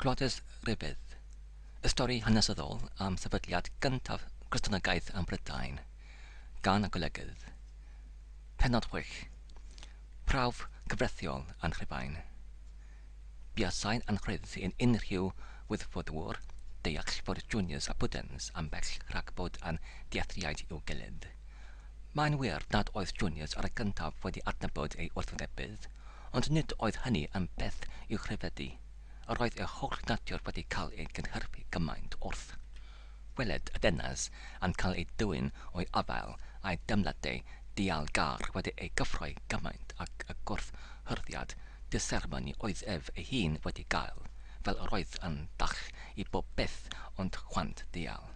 Cloddes Rhybudd, y stori hanesyddol am sefydliad gyntaf Cristnogaeth ym Mhrydain, gan y Golygydd. Pennod chwech, Prawf cyfreithiol Anchrifain. Buasai'n anrhydd i'n unrhyw wyddfodwr deall fod Junius a Pudens ambell rhag bod yn dealltwriaid i'w gilydd. Mae'n wir nad oedd Junius ar y gyntaf wedi adnabod ei wrthwynebydd, Ond nid oedd hynny yn beth i'w chrebedu, yr oedd ei holl natur wedi cael ei gynhyrfu gymaint wrth weled y deyrnas yn cael ei dwyn o'i afael a'i deimladau dial-gar wedi eu cyffroi gymaint ag y gwrthhyrddiad disermoni oedd ef ei hun wedi gael, fel yr oedd yn ddall i bob peth ond chwant dial.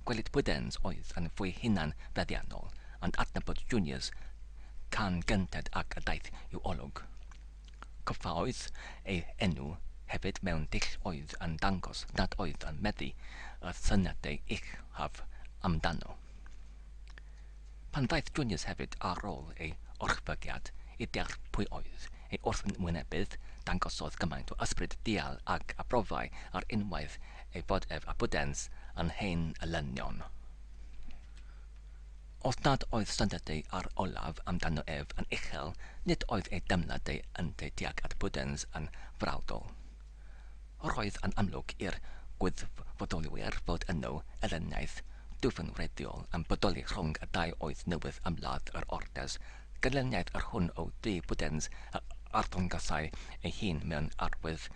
Gwelid Bwydens oedd yn fwy hunan feddiannol yn adnabod Juniors can gynted ac a daeth i'w olwg. Coffaodd ei enw hefyd mewn dull oedd yn dangos nad oedd yn meddu y syniadau uchaf amdano. Pan ddaeth Junius hefyd ar ôl ei orchfygiad i deall pwy oedd ei wrthwynebydd, dangosodd gymaint o ysbryd dial ac abrofau ar unwaith ei fod ef a Budens yn hen elynion. Os nad oedd syndodau ar olaf amdano ef yn uchel, nid oedd ei deimladau ynteu tuag at Budens yn frawdol. Roedd yn amlwg i'r gwirfoddolwyr fod yno elyniaeth dwfn wreiddiol yn bodoli rhwng y dau oedd newydd ymladd yr Ortes, ganlyniad yr hwn o dŷ Bwdens a arddangosai ei hun mewn arwydd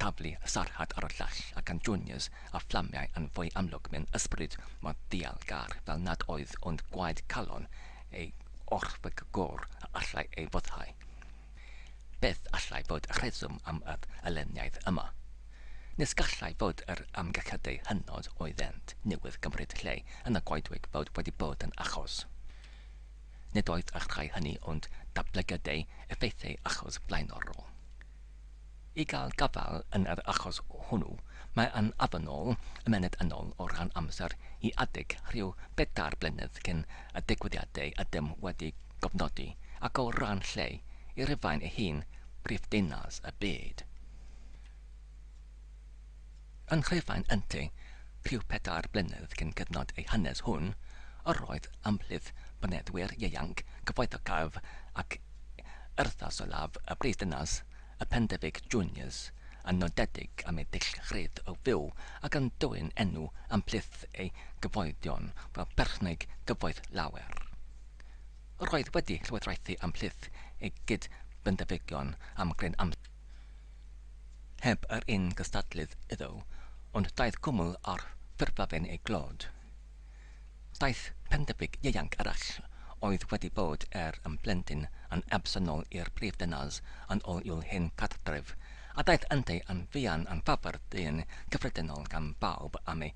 taflu sarhad ar y llall, a gan Junius a fflamiau yn fwy amlwg mewn ysbryd mor ddial-gar fel nad oedd ond gwaed calon ei orfygwr a allai ei foddhau. Beth allai fod y rheswm am yr alenniaeth yma? Nes gallai fod yr amgylchiadau hynod oeddent newydd gymryd lle yn y goedwig fod wedi bod yn achos. Nid oedd y rhai hynny ond datblygiadau effeithiau achos blaenorol. I gael gafael yn yr achos hwnnw, mae yn ofynnol ymennydd annol o ran amser i adeg rhyw bedair blynedd cyn y digwyddiadau ydym wedi cofnodi ac o ran lle i Rufain ei hun, prif ddinas y byd. Yn Rhufain ynte, rhyw pedair blynedd cyn cyfnod ei hanes hwn, yr oedd ymhlith boneddwyr ieuanc cyfoethocaf ac urddasolaf y brifddinas, y Pendebyg Juniors yn nodedig am ei dillad o fyw ac yn dwyn enw ymhlith ei gyfoedion fel perchnogi gyfoeth lawer. Roedd wedi llywodraethu ymhlith ei gyd-bendefygion am gryn amser, heb yr un gystadlydd iddo, ond daeth cwmwl ar ffurflen ei glod. Daeth pendebyg ieuanc arall oedd wedi bod er yn blentyn yn absennol i'r prif ddinas yn ôl i'w hen gartref, a daeth ynddi yn fuan yn ffafr dyn cyffredinol gan bawb am ei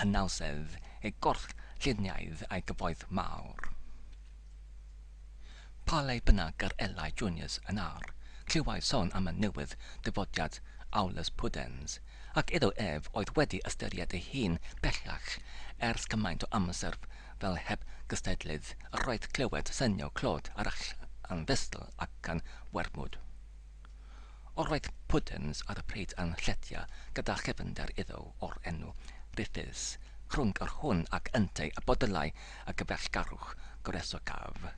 hynawsedd, ei gorchfluniaidd a'i gyfoeth mawr. Pa le bynnag yr elai Junius yn ar, clywai son am y newydd dyfodiad Aulus Pudens, ac iddo ef oedd wedi ystyried ei hun bellach ers cymaint o amser fel heb gystadlydd, yr oedd clywed synio clod arall yn ddystyl ac yn wermwd. Roedd Puddens ar y pryd yn lletya gyda chyfynder iddo o'r enw Rufus, rhwng yr hwn ac yntau y bodylai y gyfeillgarwch goresogaf.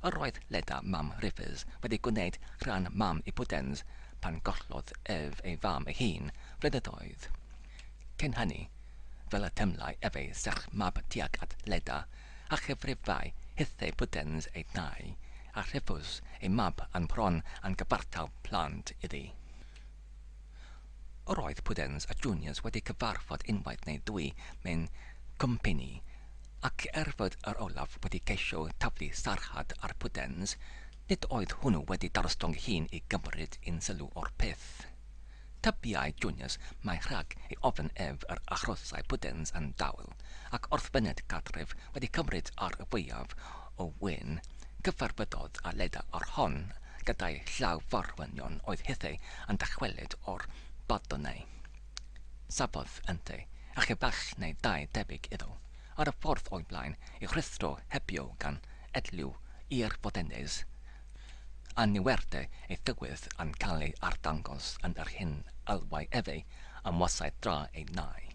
Yr oedd Leda mam Rufus wedi gwneyd rhan mam i Puddens pan gollodd ef ei fam ei hun flynyddoedd cyn hynny, fel y teimlai ef ei serch mab tuag at Leda a chyfrifai hithau Budens ei dai, a rhyfus ei mab a'n bron a'n gyfartal plant iddi. Yr oedd Pudens a Junius wedi cyfarfod unwaith neu ddwy mewn cwmpini, ac er fod yr olaf wedi ceisio taflu sarhad ar Pudens, nid oedd hwnnw wedi darostwng ei hun i gymryd unsylw o'r peth. Tybiai Junius mai rhag ei ofn ef yr achosai Pudens yn dawel, ac wrth fyned gartref wedi cymryd ar y fwyaf o wên, cyfarfyddodd â Leda o'r hon gyda'i llaw forwynion oedd hithau yn dychwelyd o'r Bardonau. Safodd yntau, a chi fach neu ddau debyg iddo, ar y ffordd o'i blaen, ei rhuthro hebio gan edliw i'r Fodennes, Anniwerde ei dywydd yn cael ei arddangos yn yr hyn alwai efe am wasau dra ei nai.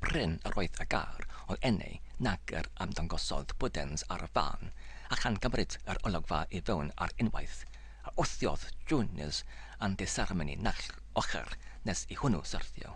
Prin yr oedd y gair o eni nag yr ymddangosodd Bwdens ar y fan, a chan gymryd yr olygfa i fewn ar unwaith, a wthiodd Jones yn ddiseremoni naill ochr nes i hwnnw syrthio.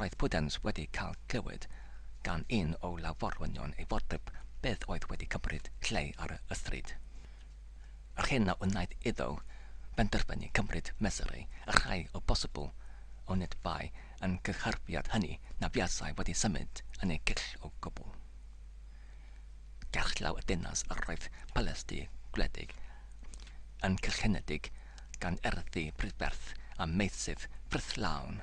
Roedd Pudens wedi cael clywed gan un o law-forwynion ei fod Pip byth oedd wedi cymryd lle ar y stryd. Yr hyn a wnaeth iddo benderfynu cymryd mesurau a rhai o bosibl, onid bai yn cynhyrfiad hynny na fuasai wedi symud yn ei gill o gwbl. Gerllaw y dinas yr oedd palasdy gwledig yn cylchenedig gan erddi prydferth a meysydd ffrwythlawn,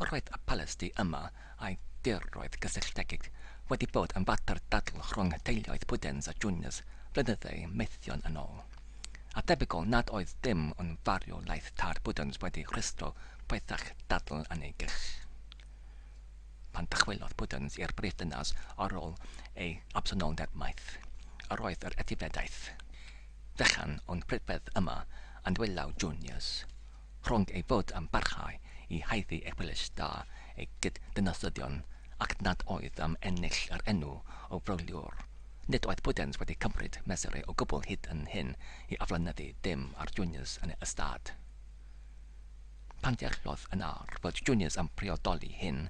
Roedd y polisi yma a'i diroedd gysylltiedig wedi bod yn fater dadl rhwng teuluoedd Pudens a Juniors flynyddau maethion yn ôl, a debygol nad oedd dim ond farwolaeth tad Pudens wedi rhwystro poethach dadl yn ei gill. Pan dychwelodd Pudens i'r brifddinas ar ôl ei absenoldeb maith, yr oedd yr etifeddiaeth fechan o'n prydferth yma yn dwylaw Juniors. rhwng ei fod am barhau i haeddu eglwys da ei gyd-dynasyddion ac nad oedd am ennill yr enw o frogliwr. Nid oedd Budens wedi cymryd mesurau o gwbl hyd yn hyn i aflonyddu dim ar Junius yn ei ystâd. Pan ddeallodd yn ar fod Junius am briodoli hyn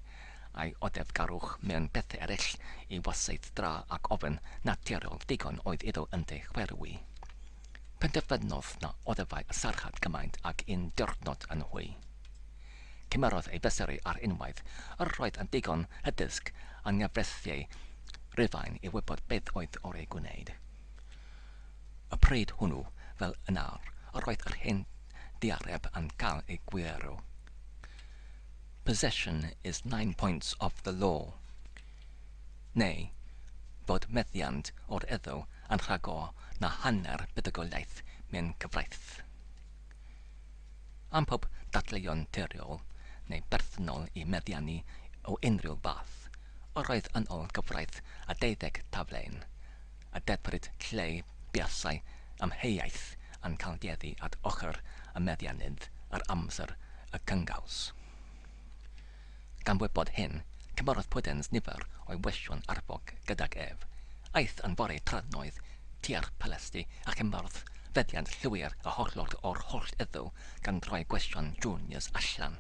a'i oddefgarwch mewn pethau eraill i wasaith dra ac ofn naturiol ddigon oedd iddo ynddo chwerwi. Penderfynodd na oddefai y sarjant gymaint ag un diwrnod yn hwy. Cymerodd ei fesurau ar unwaith, yr oedd yn ddigon hygyrch a nghyfreithiau Rufain i wybod beth oedd oreu gwneud. Y pryd hwnnw, fel yn awr, yr oedd yr hen ddiareb yn cael ei gwirio. Possession is nine points of the law. neu bod meddiant o'r Eddw yn rhagor na hanner buddugoliaeth mewn cyfraith. Am pob dadleuon teoriol neu berthynol i meddiannu o unrhyw fath, yr oedd yn ol gyfraith a deuddeg taflen, y dedfryd lle buasai amheuaeth yn cael geddi at ochr y meddiannydd yr amser y cyngaws. Gan wybod hyn, cymerodd Pwdens nifer o'i weision arfog gydag ef. Aeth yn fory tradnoeth tua'r Palasdy a chymerodd feddiant llwyr a hollol o'r holl eddw gan droi gweision Junius allan.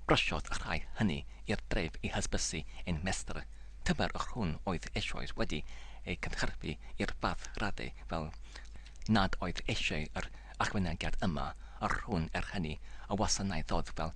Brysiodd y rhai hynny i'r dref i hysbysu ein Mestr, tymer yr hwn oedd eisoes wedi ei gynhyrfu i'r fath radde fel nad oedd eisiau yr ychwanegiad yma yr hwn er hynny y wasanaethodd fel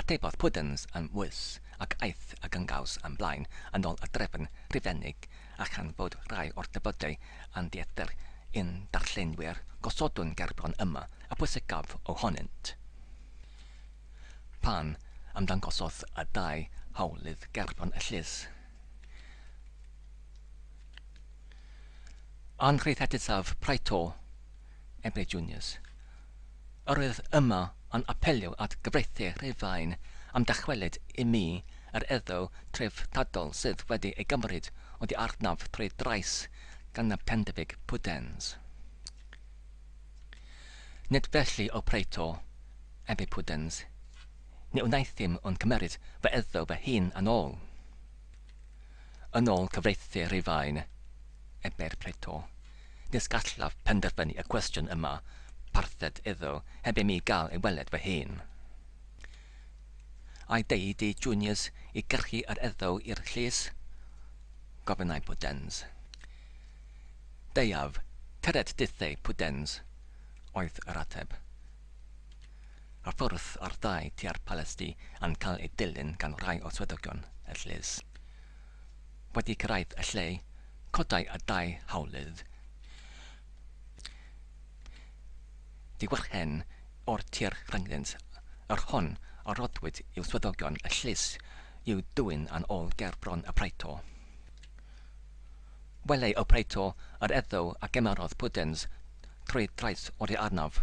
Atebodd Puddens yn ddwys, ac aeth y gyngaws yn blaen yn ôl y drefn rhufeinig, a chan fod rhai o'r defydau yn dieithr i'n darllenwyr, gosodwn gerbron yma y pwysicaf ohonynt. Pan ymddangosodd y dau hawlydd gerbron y llys, anrhyddhadusaf Praetor Ebregionius, Yr oedd yma yn apelio at gyfreithiau Rhufain am dychwelyd i mi yr eiddo treftadol sydd wedi ei gymryd oddi arnaf trwy drais gan y Pendefic Pudens. Nid felly, O Praetor, ef ei Pudens, ni wnaethum ond cymeryd fy eiddo fy hun yn ol. Yn ol cyfreithiau Rhufain, ebai'r Praetor, nes gallaf penderfynu y cwestiwn y mae parthed iddo heb i mi gael ei weled fy hun. Ai deud i Junius i gyrchu yr eddo i'r llys? gofynnai Pudens. Deuaf, tyred dithei, Pudens, oedd yr ateb. Ar ffwrdd ar ddau tua'r palasdy a'n cael ei dilyn gan rai o swyddogion y llys. wedi cyrraedd y lle, codai y dau hawlydd. Diwrchen o'r tir rhyngddynt, yr hon a roddwyd i'w swyddogion y llys i'w dwyn yn ôl ger bron y praeto. Welai y praeto yr eddyw a gymerodd pwdens trwy drais oddi arnaf.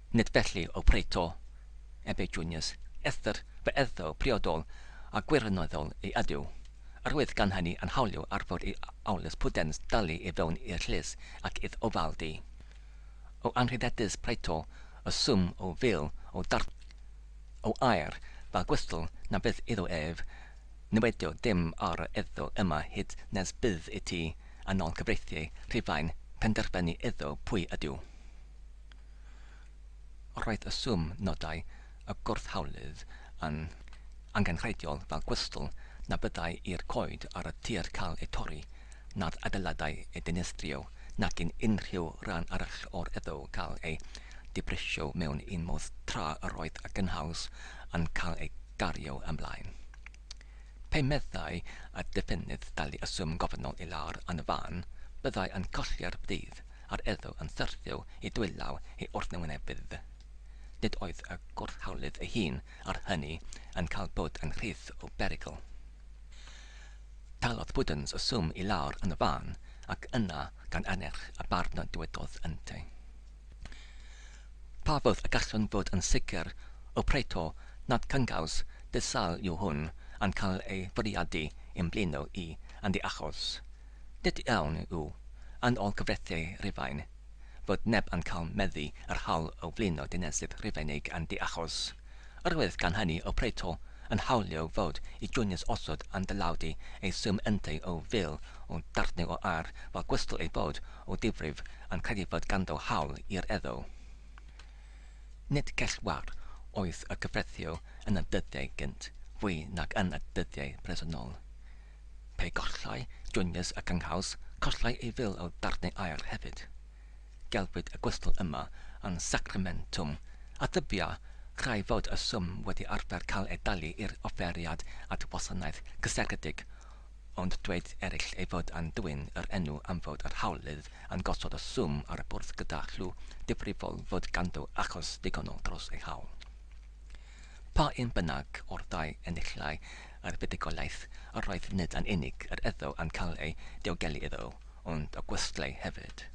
Nid felly, O Praeto, ebe Junius, eithr fe eiddo priodol a gwirioneddol ei adew, yr oedd gan hynny yn hawlio ar fod i Aulus Pudens dalu i fewn i'r llys ac idd ofaldi o anrhyddedus Praeto y swm o fil o dartgau o aer fel gwystl na fydd iddo ef niwedio dim ar yr eiddo yma hyd nes bydd i ti yn ol cyfreithiau Rhufain penderfynu iddo pwy ydyw Roedd y swm nodau y gwrthhawlydd yn angenrheidiol fel gwystl na byddai i'r coed ar y tir cael eu torri, na'r adeiladau eu dinistrio, nac yn unrhyw ran arall o'r eddw cael ei dibrisio mewn un modd tra yr oedd y gynhaws yn cael ei gario ymlaen. Pe meddai y defennydd dalu y swm gofynnol i lawr yn y fan, byddai yn colli'r bridd a'r elw yn syrthio i dwylaw ei wrthwynebydd. Nid oedd y gwrthhawlydd ei hun ar hynny yn cael bod yn rhydd o berygl. Talodd Puddens y swm i lawr yn y fan, ac yna, gan annerch y barn dywedodd yntau. Pa fodd y gallwn fod yn sicr, o Prato, nad cyngaws di-sâl yw hwn yn cael ei fwriadu i'n mblino i yn ddi-achos? Nid iawn yw, yn ôl cyfreithiau Rufain, fod neb yn cael meddu yr haul o flino dinesydd Rufeinig yn ddi-achos. Yr oedd gan hynny o Prato yn hawlio fod i Junius osod am dylawdu ei swm yntau o fil o darnau o aur fel gwestl ei fod o ddifrif yn credu fod ganddo hawl i'r eddo. Nid gellwair oedd y cyfreithio yn y dyddiau gynt fwy nag yn y dyddiau presennol. Pe gollai Junius y cynghaws, collai ei fil o darnau aur hefyd. Gelwid y gwystl yma yn sacramentum a dybia rhai fod y swm wedi arfer cael ei dalu i'r offeriad at wasanaeth gysegredig, ond dweud eraill ei fod yn dwyn yr enw am fod yr hawlydd yn gosod y swm ar y bwrdd gyda chlw difrifol fod ganddo achos digonol dros ei hawl. Pa un bynnag o'r ddau enillai a'r buddugoliaeth yr oedd nid yn unig yr iddo am cael ei diogelu iddo, ond y gwestai hefyd.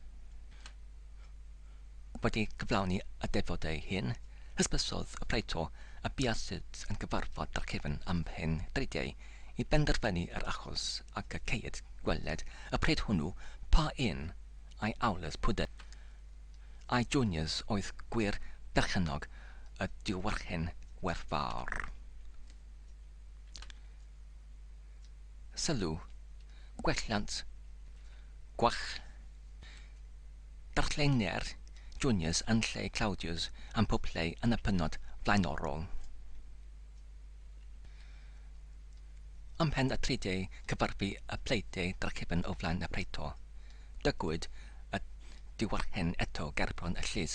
Wedi cyflawni y defod ei hun, hysbysodd y praeto y buasyd yn cyfarfod â'r cefn am hen dridiau i benderfynu yr achos ac y ceid gweled y pryd hwnnw pa un ai Aulus Pudens ai Junius oedd gwir berchennog y diwarchen werthfawr. Sylw, Gwelliant, Gwach, Darllenia'r Juniors yn lle Claudius am pob lle yn y pennod flaenorol. Ymhen y Tridiau cyfarfu y Pleidiau drachefn o flaen y Praeto. Dygwyd y diwarchen eto gerbron y llys,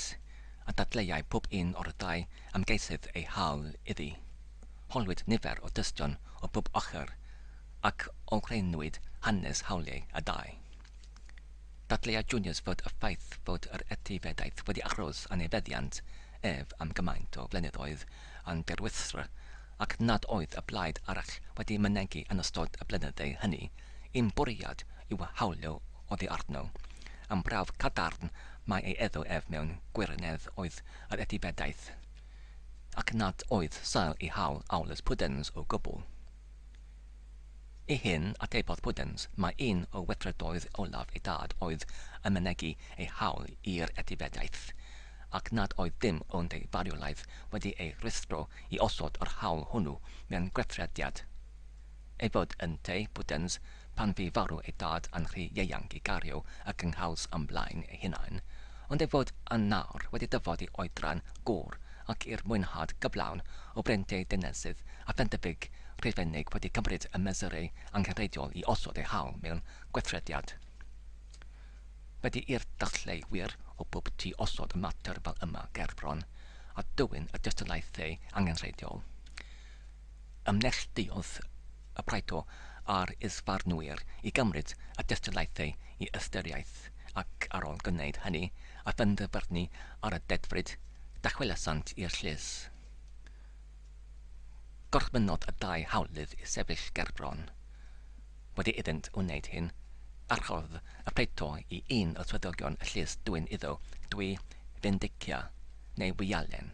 a dadleuai pob un o'r dau Ymgeisydd ei hawl iddi. Holwyd nifer o dystion o bob ochr ac olrheinwyd hanes hawliau y ddau. Dadleuai Junius fod y ffaith fod yr etifeddaeth wedi aros yn ei feddiant ef am gymaint o flynyddoedd yn dirwystr ac nad oedd y blaid arall wedi mynegi yn ystod y blynydde hynny un bwriad i'w hawlio oddi arno. Yn brawf cadarn mae ei eddo ef mewn gwirionedd oedd yr etifeddaeth, ac nad oedd sail i hawl Aulus Pudens o gwbl. I hyn atebodd Pudens mai un o weithredoedd olaf ei dad oedd yn mynegi ei hawl i'r etifeddaeth, ac nad oedd dim ond ei farwolaeth wedi ei rwystro i osod yr hawl hwnnw mewn gweithrediad. ei fod ynteu bwdens pan fu farw ei dad a'n rhy ieuanc i gario y cynghaws am blaen ei hunain, ond ei fod yn nawr wedi dyfod i oedran gŵr ac i'r mwynhad gyflawn o brentei dynesydd a phendebyg Rhufeinig wedi cymryd y mesurau angenrheidiol i osod ei haul mewn gweithrediad. Wedi i'r dathliau wir o bob tu osod y mater fel yma gerbron a dwyn y dystiolaethau angenrheidiol. Ymneilltuodd y Praetor a'r is-farnwyr i gymryd y dystiolaethau i ystyriaeth, ac ar ol gwneud hynny a phenderfynu ar y dedfryd, dychwelasant i'r llys. Gorchmynnodd y dau hawlydd i sefyll gerbron. Wedi iddynt wneud hyn, archorodd y Praetor i un o swyddogion y llys dwyn iddo dwy fendicia, neu wialen.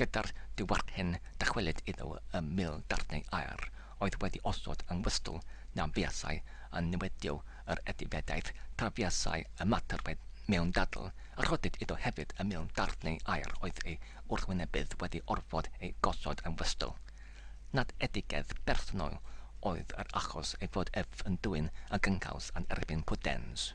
Gyda'r diwedd hyn, dychwelyd iddo ym mil darnau aer oedd wedi osod yng ngwystl na fuasai yn niwedio yr etifeddiaeth tra fuasai ymatebaidd mewn dadl, a rhoddid iddo hefyd y mil darnau aer oedd ei wrthwynebydd wedi orfod eu gosod yng ngwystl. Nad edigedd bersonol oedd yr achos ei fod ef yn dwyn y gynghaws yn erbyn Pudens.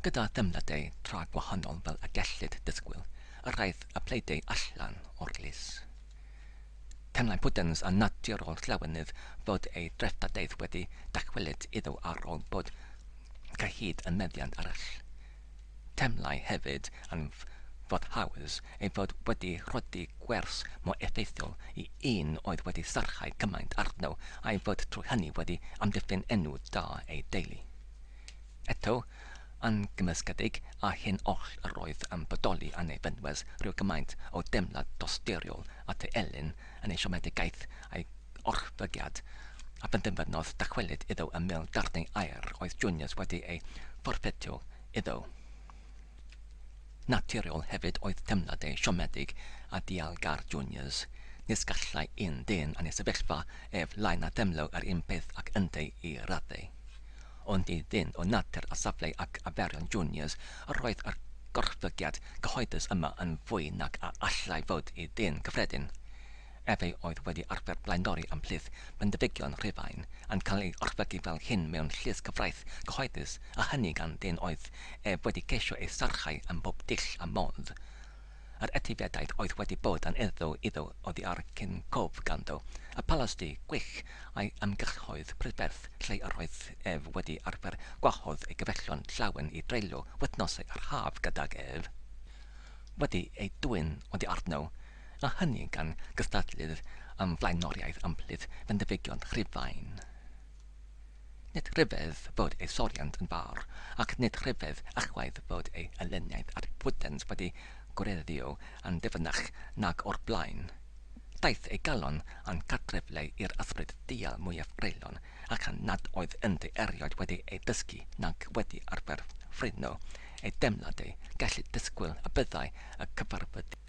Gyda theimladau tra gwahanol fel y gellid disgwyl, yr aeth y Pleidiau allan o'r llys. Teimlai Puddens yn naturol Llawenydd fod ei dreftadaeth wedi dychwelyd iddo ar ol bod cyhyd yn meddiant arall. Teimlai hefyd yn foddhaus ei fod wedi rhoddi gwers mor effeithiol i un oedd wedi sarchau cymaint arno a'i fod trwy hynny wedi amddiffyn enw da ei deulu. Eto, yn gymysgedig â hyn oll yr oedd yn bodoli yn ei fynwes rhyw gymaint o deimlad dosturiol at ei elyn yn ei siomedigaeth a'i orchfygiad, a phenderfynodd dychwelyd iddo ym mil darnau aer oedd Junius wedi eu fforffedio iddo. Naturiol hefyd oedd teimladau siomedig a dialgar Juniors, nes gallai un dyn yn ei sefyllfa ef lai na theimlo yr un peth ac yntau i raddau. Ond i ddyn o natur a safle ac arferion Juniors yr oedd yr gorchfygiad cyhoeddus yma yn fwy nag a allai fod i ddyn cyffredin. ef ei oedd wedi arfer blaendori am plith Bendifigion Rhufain, yn cael ei orchfygu fel hyn mewn llys cyfraith cyhoeddus, a hynny gan dân oedd ef wedi ceisio ei sarchau ym mhob dull a modd. Yr etifeddaeth oedd wedi bod yn eiddo iddo oddi ar cyn cof ganddo, y palasdy gwych a'i ymgyrchoedd prydferth lle yr oedd ef wedi arfer gwahodd ei gyfellion llawen i dreulio wythnosau yr haf gydag ef, wedi eu dwyn oddi arno, a hynny gan gystadlu'r am flaenoriaeth ymhlith fenthyfegion Rhufain. Nid rhyfedd fod ei soriant yn fawr, ac nid rhyfedd ychwaith fod ei elyniaeth at Pwdens wedi gwereddio yn ddyfnach nag o'r blaen. Daeth ei galon a'n cartrefle i'r ysbryd ddial mwyaf greulon, ac a nad oedd ynddi erioed wedi ei ddysgu nac wedi arfer ffrwyno ei deimladau, gellid disgwyl y byddai y cyfarfyddiad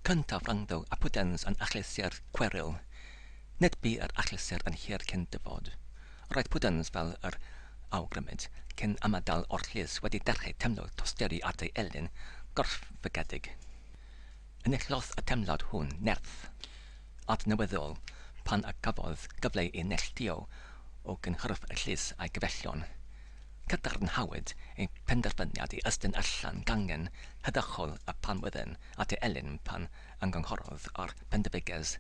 Cyntaf rhangdo a pwdens yn achlysur cweryl. Nid bu yr achlysur yn hir cyn dyfod. Roedd pwdens fel yr awgrymid, cyn ymadael o'r llys wedi dechrau teimlo tosturi at ei elyn gorfygedig. Enillodd y teimlad hwn nerth. adnewyddol pan a gafodd gyfle i neilltuo o gynhyrf y llys a'i gyfeillion. Cadarnhawyd ei phenderfyniad i estyn allan gangen heddychol y Panwyddyn at ei elyn pan ymgynghorodd â'r Pendefiges,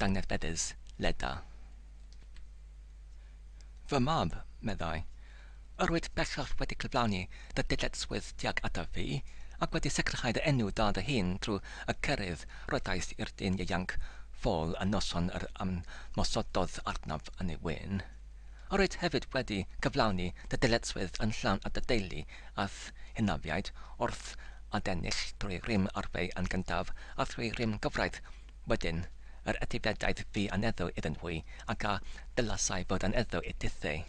Dangnefeddus, Leda. Fy mab, meddai, yr wyt bellach wedi cyflawni dy dyletswydd tuag ataf fi, ac wedi sicrhau dy enw da dy hun trwy y cerydd roedais i'r dyn ieuanc ffôl y noson yr ymmosododd arnaf yn ei wên. Yr wyt hefyd wedi cyflawni dy dyletswydd yn llawn at dy deulu a'th hynafiaid wrth adennill trwy rym arfau yn gyntaf a thrwy rym gyfraith Wedyn, yr ydi dedaid fi aneddu iddyn nhwy ac a dylasai fod aneddu i dithei?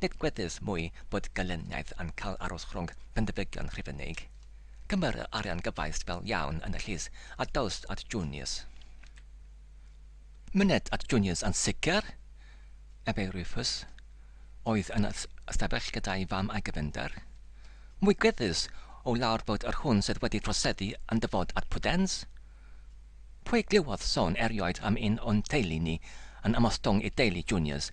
Nid gweddys mwy bod gelyniaeth yn cael aros rhwng pendebygion Rhufeinig. Cymeru arian gyfaist fel iawn yn y llys a dawst at Junius. Myned at Junius yn sicr! ebai Rufus, oedd yn ystafell gyda'i fam a'i gefnder. Mwy gweddus o lawr fod yr hwn sydd wedi troseddu yn dyfod at Pwdens? Pwy glywodd sôn erioed am un o'n teulu ni yn ymostwng i deulu Juniors,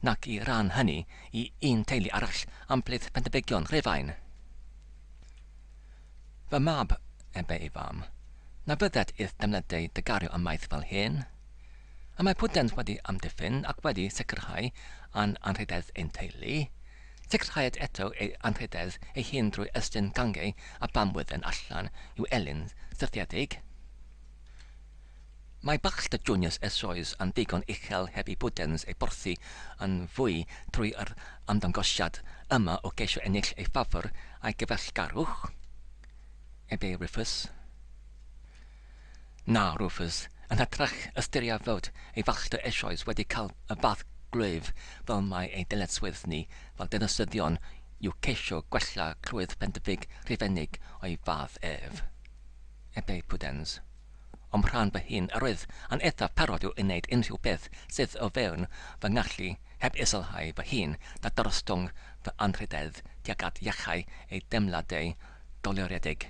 nac i ran hynny i un teulu arall am plith Pendebygion Rhufain? Fy mab, ebe ei fam, na fyddet i'th defnydeu dy gario ymaith fel hyn? Y mae Pwdens wedi amddiffyn ac wedi sicrhau a'n anrhydedd ein teulu. Sicrhaid eto ei anrhydedd ei hun drwy estyn gangau a bamwydden allan i'w elyn syrthiedig. Mae Baxter Juniors eisoes yn ddigon uchel heb i Buddens ei borthi yn fwy trwy yr ymddangosiad yma o geisio ennill ei ffafr a'i gyfeillgarwch, Ebe Rufus. Na, Rufus, yn hytrach ystyria fod ei falltau eisoes wedi cael y bath gwlyb fel mai ein dyletswydd ni fel dinasyddion yw ceisio gwella clwydd Pendyfig Rhufeinig o'i fath ef. Ebe Pudens. O'm rhan fy hun, yr oedd yn eithaf parod i'w wneud unrhyw beth sydd o fewn fy ngallu, heb iselhau fy hun na dyrostwng fy anrhydedd tuag at iachau ei deimladau dolyriedig.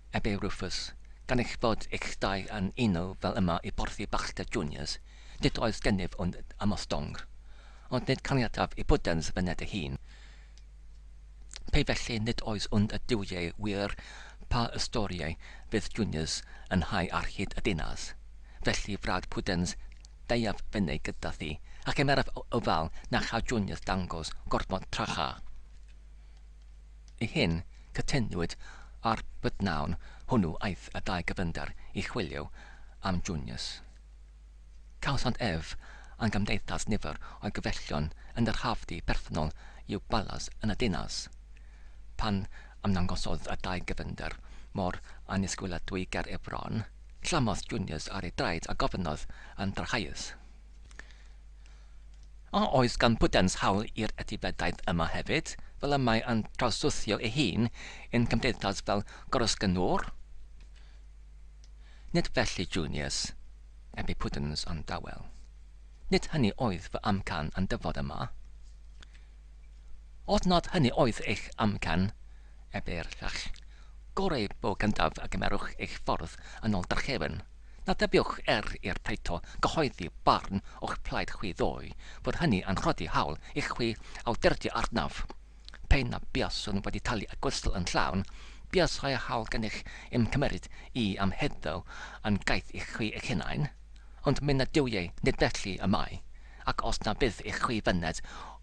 a byw Rufus, gan eich bod eich dau yn uno fel yma i borthi Baxter Juniors, nid oes gennyf ond ymostwng. Ond nid caniataf i Buddens fyned ei hun. Pe felly nid oes ond y duwiau wir pa ystoriau fydd Juniors yn hau ar hyd y dinas. Felly, Frad Puddens, deuaf fyny gyda thi, a chymeraf ofal na cha Juniors dangos gormod tracha. Y hyn cytunwyd ar b'dnawn hwnnw aeth y dau gyfynder i chwilio am Junius. Cawsant ef a'n gymdeithas nifer o'i gyfellion yn yr hafdy perthynol i'w balas yn y dinas. Pan ymddangosodd y dau gyfynder mor annisgwyladwy ger ei fron, llamodd Junius ar ei draed a gofynnodd yn drachaius. A oes gan Bwdhans hawl i'r etifeddaeth yma hefyd, fel y mae yn trawsluthio ei hun i'n cymdeithas fel gorysgyngor? Nid felly, Junius, ebe Pwdhans yn dawel. Nid hynny oedd fy amcan yn dyfod yma. Os nad hynny oedd eich amcan, a bellach, gorau bo gyntaf a gymerwch eich ffordd yn ol drachefn, na dybiwch er i'r Paeto gyhoeddi barn o'ch plaid chwi ddoe, fod hynny yn rhodi hawl i chwi awdurddio arnaf. Pe na buaswn wedi talu y gwystl yn llawn, buasai hawl gennych i'm cymeryd i am heddyw yn gaeth i chwi eich hunain. Ond myned yw ei, nid felly y mae, ac os na fydd i chwi fyned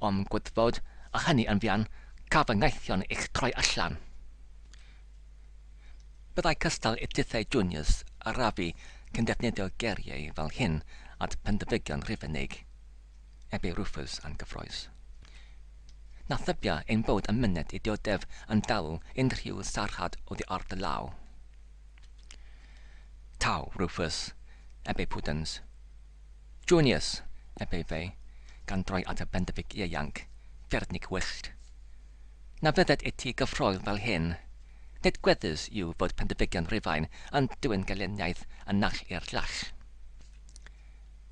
o'm gwddfod, a hynny yn fuan, ca fy ngaethion i'ch troi allan. Byddai cystal i tithau Junius a Rafi cyn defnyddio geiriau fel hyn at Pendyfygion Rhufeinig, eb i Rufus a'n gyffroes. Na thybia ein bod yn myned i dioddef yn dawel unrhyw sarhad oddi ar dy law. Taw, Rufus, eb ei pwdens. Junius, eb ei fei, gan droi at y bendefic ieuanc, Fernig wyllt. Na fydded i ti gyffroi fel hyn. Nid gweddus yw fod pendefigion Rufain yn dwyn gelyniaeth y naill i'r llall.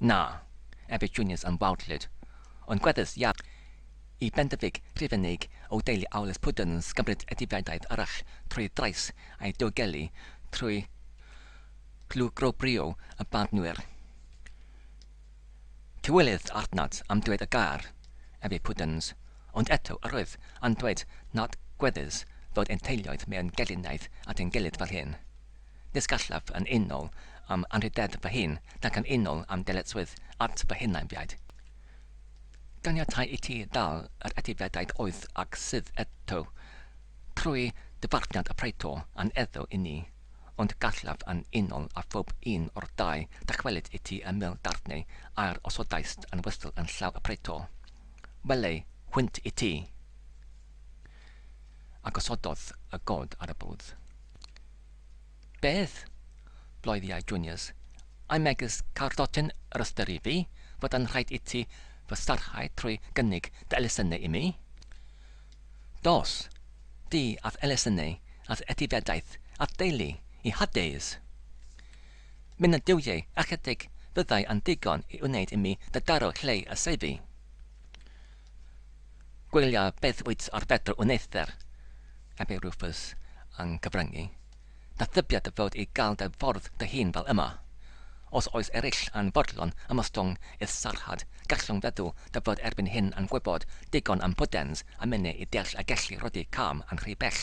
Na, ebydd Junius yn wawdlyd, ond gweddus iawn i bendefig Rhufeinig o deulu Aulus Pwdens gymryd edifiadaeth arall trwy drais ei diogelu trwy glwygrobrio y barnwyr. Tywylydd Arnat am dweud y gair, efe Puddens, ond eto yr oedd yn dweud nad gweddus fod ein teuluoedd mewn gelinaeth at ein gilydd fel hyn. Nis gallaf yn unol am anrhydedd fy hun nac yn unol am dyletswydd at fy hunainfiaid. Ganiatai i ti ddal yr etifeddaeth oedd ac sydd eto, trwy ddyfarniad y praeto a'n eddw i ni, ond gallaf yn unol â phob un o'r dau ddychwelyd i ti y mil darnau a'r osodaist yn wystel yn llaw y praeto. Wele, hwynt i ti! A gosododd y god ar y bwrdd. Beth? bloeddiai Junius. I megis cardotyn yr ystyri fi fod yn rhaid iti fy sarhau trwy gynnig dy elusennau imi? Dos, di a'th elusennau a'th etifeddaeth a'th deulu i Hades! Myn y duwiau ychydig fyddai yn ddigon i wneud imi dy daro lleu y seifi. Gwylia beth wyt ar fedr yn eithr, ebe Rufus yn cyfryngu. Da thybia dy fod i gael dy ffordd dy hun fel yma. Os oes ereill yn fodlon ymostwng i'th sarhad, gallwn feddwl dy fod erbyn hyn yn gwybod digon am Puddens a Minnie i deall a gellu rhoddi cam yn rhy bell.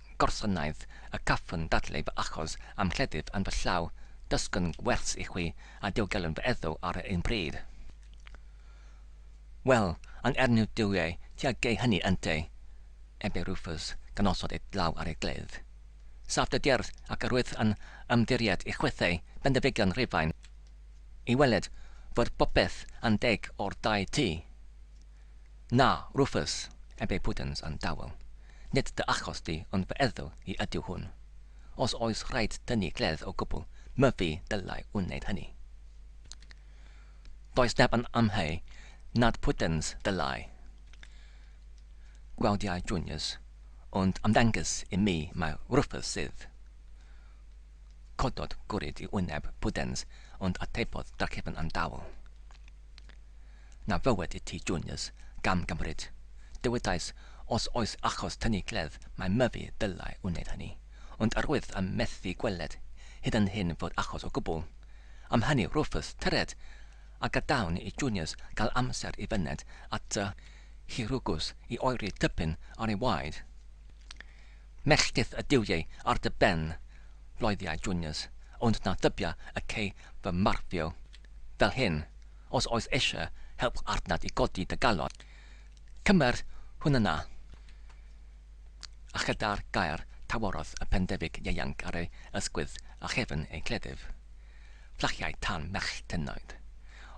Gorsynnaeth y cafwn dadle fy achos a'm cleddyf yn fy llaw, dysgwn gwers i chwi a diogelu fy eddw ar yr un pryd. Wel, yn ernyw duwie ti a gei hynny ynte? ebe Rufus, gan osod ei dlaw ar ei gledd. Saff dy gerdd, ac yr wyf yn ymddiried i chwithau Bendifigion Rhufain, i weled fod popeth yn deg o'r dau ti. Na, Rufus, eb ei pwdins yn dawel, nid dy achos di ond fy ethol i ydyw hwn. Os oes rhaid tynnu gledd o gwbl, my fi ddylai wneud hynny. Does neb yn amheu nad pwdins ddylai. Gwawdiai Junius, ond ymddengys i mi mai Rufus sydd. Cododd gwrid i wyneb pwdins ond atebodd drachefn yn dawel. na fywed i ti Juniors, gam gymryd. Dywedais os oes achos tynnu gleddf mae Myfi ddylai wneud hynny, ond yr wyf yn methu gweled hyd yn hyn fod achos o gwbl. Am hynny Rufus, tyred! a gadawn i Juniors gael amser i fyned at tŷ Hurugus i oeri typyn ar ei waed. Melltith y duwiau ar dy ben, loeddiai Juniors, ond na thybia y cei fy marfio fel hyn. Os oes eisiau help adnabod i godi dy galon, cymer hwn yna a chyda'r gair taworodd y pendefic ieuanc ar ei ysgwydd a chefn ei gleddyf, fflachiai tân merch tynoed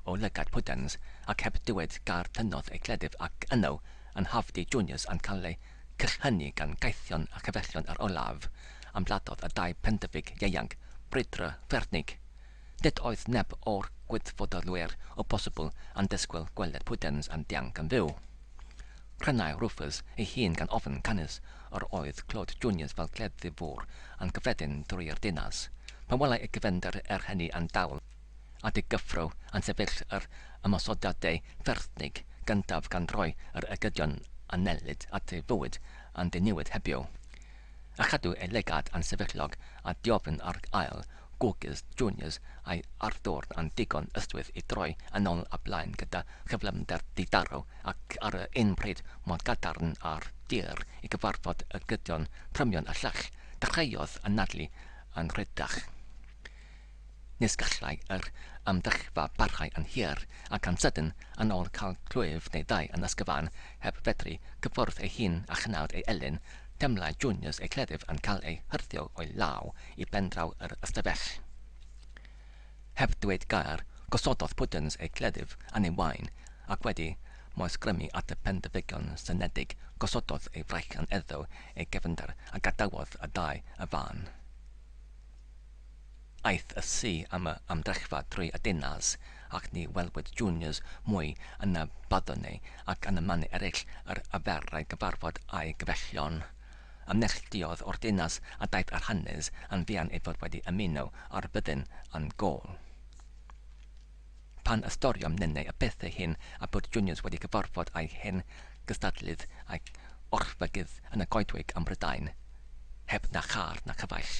o lygad Pudens ac heb dywed gair tynnodd ei gleddyf ac yno yn hafdy Junius yn cael ei crychynu gan gaethion a chyfellion yr olaf ymladdodd y dau pendefic ieuanc brwydro Fernig Nid oedd neb o'r Gwydfodolwyr o bosibl yn disgwyl gweled Pudens yn dianc yn fyw. Prynai Rufus ei hun gan ofn canys yr oedd clod Junius fel cleddyf fwr yn cyffredin drwy'r dinas, pan welai y gefnder er hynny yn dawel at ei gyffro yn sefyll yr ymosodiadau fferthnig gyntaf gan roi yr ergydion yn nellid at ei fywyd yn diniwed hebio a chadw ei legad yn sefyllog a diofn ar ail Googles Juniors a'i arddwrn yn ddigon ystwyth i droi yn ôl a blaen gyda chyflymder di-daro ac ar yr un pryd mor gadarn a'r dur i gyfarfod y gydion trymion a llall, dechreuodd anadlu yn rhyddach. Nis gallai yr amgylchfa barhau yn hir, ac yn sydyn, yn ôl cael clwyf neu ddau yn ysgyfan heb fedru cyffwrdd ei hun a chnawd ei elyn, teimlai Juniors ei chleddyf yn cael ei hyrddio o'i law i bendraw yr ystafell. Heb dweud gair, gosododd Puddens ei gleddyf yn ei wain, ac wedi moesgrymu at y pendefigion synedig, gosododd ei fraich yn eddyw ei gefnder a gadawodd y ddau y fan. Aeth y ci am y ymdrechfa drwy y dinas, ac ni welwyd Juniors mwy yn y baddoni ac yn y manu eraill yr aferai gyfarfod â'i gefeillion. a neilltuodd o'r dinas a daeth ar hanes yn fuan ei fod wedi ymuno â'r byddin yn Gaul. Pan ystyriom ninnau y pethau hyn a bod Junius wedi cyfarfod â'i hen gystadlydd a'i orchfygydd yn y goedwig ym Mhrydain, heb na char na chyfaill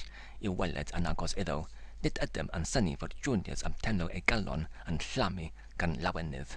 i'w weled yn agos iddo, nid ydym yn synnu fod Junius am tenlo ei galon yn llamu gan lawenydd.